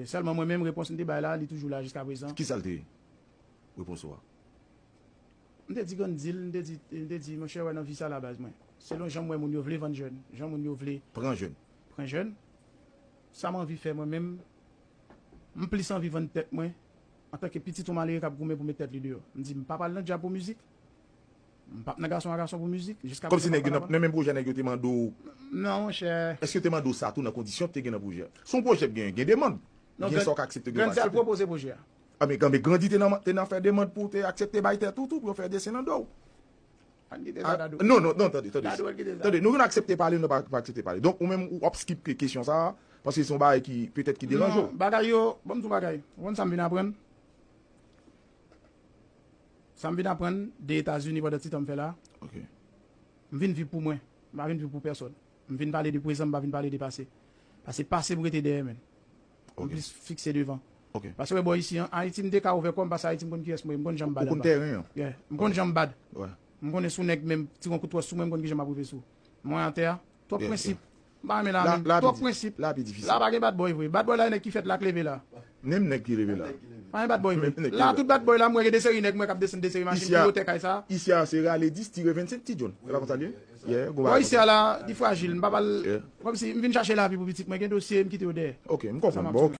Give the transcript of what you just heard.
Sèlman mwen menm, repons m te bay la, li toujou la jiskaprezan. Ki sa l te ye? Repons ou a. M te di Gandhi l, m te di, m te di, monchè, wè nan vi sa la baz mwen, selon jan m wè moun yo vle vann jèn, jan moun yo vle. Pran jèn. Pran jèn. Sa m anvi fè mwen menm, m plis anvi vann tèt mwen, antanke pitit yon malere k ap goumen pou met tèt li deyò. M di, m pa pral nan djab pou mizik. M pap nan gason a gason pou mizik. Kòm se nèg yo nan menm pwojè nèg yo te mande w. Non monchè. Èske yo te mande w sa tou nan kondisyon ki te gen nan pwojè a? Se yon pwojè ki gen demand. Gen sa w ka aksepte gen sa w pa aksepte. Grandi te al pwopoze pwojè a. Anben kanmen Grandi te nan fè demand pou w te aksepte bay tèt ou tou pou yo fè desen nan do w. Pa n kite sa Dadou. Non non non tande tande. Dadou an kite sa. Tande nou gen aksepte pale nou pa aksepte pale. Donk ou menm ou ap skip kesyon sa a paske se yon bagay ki petèt ki deranje w. Non bagay yo, banm di w yon bagay. Ou konn sa m vin aprann? Sa m vin aprann de Etazini pandan ti tan m fè la a, M vin viv pou mwen, m pa vin viv pou pèsòn. M vin pale de prezan, m pa vin pale de pase. Pase pase m rete dèyè menn. M plis fikse devan. Pase wè bò isi an, Ayiti m te ka ouvè kò m pase Ayiti m konn kiyès mwen ye, m konn jan m bad anba. Ou konn tèren an. Yeah. M konn jan m bad. M konnen si w nèg menm tire yon kout twòs sou mwen m konn kijan m ap rive sou ou. Mwen atè a, Twòp prensip. M pa renmen la menm. Twòp prensip. La pa gen badboy vre. Badboy la e nèg ki fèt la k leve la. Menm nèg ki leve la. Pa gen badboy vre. La tout badboy la m wè gen de seri nèg m wè k ap desann de seri machin pi wo tè kay sa. Isi a se rale 10 tire 25 ti John. Se pa konsa l ye? Yeah, gon bagay konsa. Bò isi a la, li frajil. M pa pral. Kòmsi, m vin chache lavi pou pitit mwen. Gen dosye, m kite yo dèyè. Ok, m konprann. Bò ok.